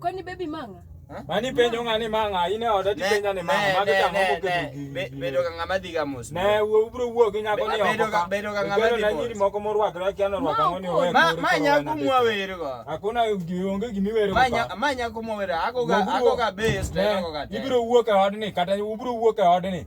Kwani baby manga? Mani penjo ng'ani manga, in e oda tipenja ni manga, mago tang'o moketo Bedo ka ng'ama dhiga mos. Ne, wuo ubro wuo gi nyako ni oko ka. Bedo ka ng'ama dhiga mos. Nyiri moko morwakre kia norwako ang'o ni owe. Ma nyako mwa wero go. Hakuna onge gimi wero. Ma nyako mwa wero, ago ga ago ga base to ago ga. Ibro wuo ka odni kata ubro wuo ka odni.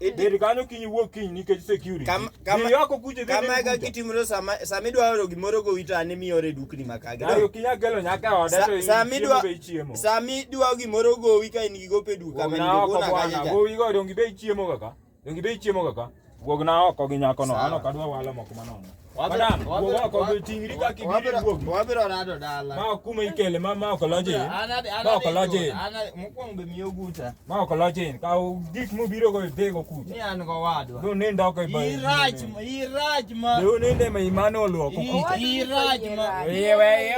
Bed kanyo kiny iwuog kiny nikech security. Kam- kama- Dhi oko kuche dhi kama eka kitimro sama sama idwa oro gimoro go wito ane miore dukni makage Ayo kinya gelo nyaka oda Sa- to sama idwa- idwa be chiemo. sama idwa gimoro gowi ka in gi gope duka ma Wogna oko nigona bwana. kanyacha Gowi go dongi be chiemo kaka. Dongi be chiemo kaka. Wogna oko gi nyako no. Sawa. Ano kadwa walo moko manono. makolochin kaw gik mobiro go dhi go kucha do nind oko do ninde ma imane olwoko kuchaiye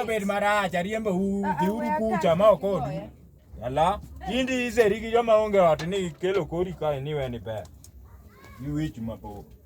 obed marach ariembo u dhiuru kucha ma ok odu ala indi iseri gi joma onge ot ni kelo kori kae ni weni ber iwich mapok